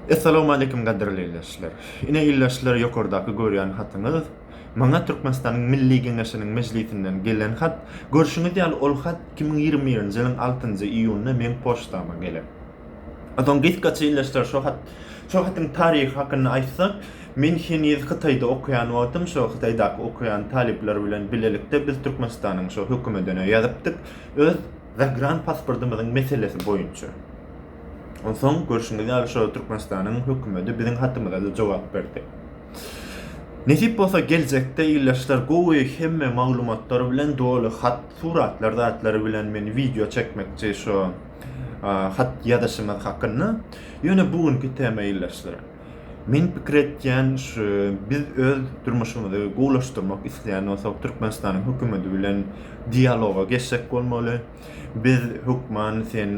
Essalawmaleýkim gadyrly ildeşler! Ine ildeşler ýokardaky görýän hatyňyz maňa Türkmenistanyň Milli Geňeşiniň mejlisinden gelen hat, görşüňiz ýaly ol hat iki müň ýigrimi birinji ýylyň altynjy iýunynda meň poçtama gelen. Soň gysgaça ildeşler şo hat şo hatyň taryhy hakynda aýtsak, men heniz Hytaýda okaýan wagtym şo Hytaýdaky okaýan talyplar bilen bilelikde biz Türkmenistanyň şo hökümedine ýazypdyk, öz Zagranpasportymyzyň meselesi boýunça. Onsoň, görşüňiz ýaly, şo Türkmenistanyň hökümeti biziň hatymyza-da jogap berdi. Nesip bolsa, geljekde ildeşler gowy hemme maglumatlar bilen doly hat, suratlar zatlary bilen men wideo çekmekçi şo hat ýazyşymyz hakynda. Ýöne bu günki tema ildeşler. Men pikir etýän şu, biz öz durmuşymyzy gowulaşdyrmak isleýän bolsak, Türkmenistanyň hökümeti bilen dialoga geçjek bolmaly. Biz hökman sen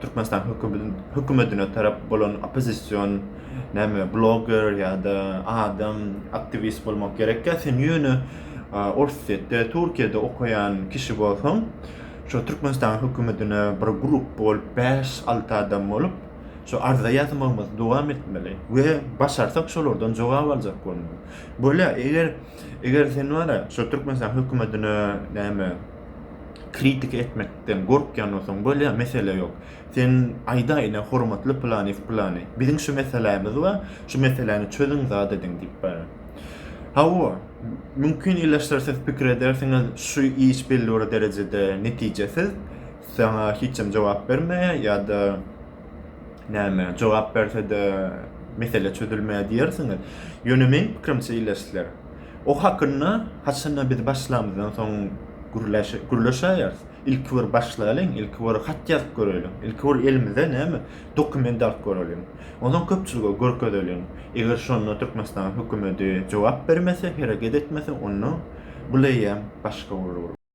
Türkmenistanyň hökümetini hökümetine tarap bolan oppozision näme bloger ýa-da adam aktiwist bolmak gerek ýa sen ýöne Orsýetde, Türkiýede okaýan kişi bolsaň, şu Türkmenistanyň hökümetine bir grup bolup bäş-alty adam bolup, Şu arza ýazmagymyzy dowam etmeli we başarsak şolardan jogap aljak bolmaly. Bolýa, eger eger sen wara şu Türkmenistan hökümetine näme kritik etmekden gorkýan bolsaň bolýa, mesele ýok. Sen aýda ine hormatly plany plany. Biziň şu meselämiz bar, şu meseläni çözüň zat ediň diýip bar. Hawa, mümkin ileşdirsiz pikir edersiňiz, şu iş belli bir derejede netijesiz. Saňa hiçem jogap bermeýär ýa-da näme, jogap berse-de mesele çözülmeýär diýersiňiz. Ýöne meň pikirimçe ileşler. O hakynda haçanda biz başlamyzdan soň gürleşäýeris. Ilki bir başlaýlyň, ilki bir hat ýazyp göreliň, ilki bir elimize näme, dokument alyp göreliň. Onsoň köpçülige görkezeliň. Eger şonda Türkmenistanyň hökümeti jogap bermese, hereket etmese, onda bu leýem başga bolar.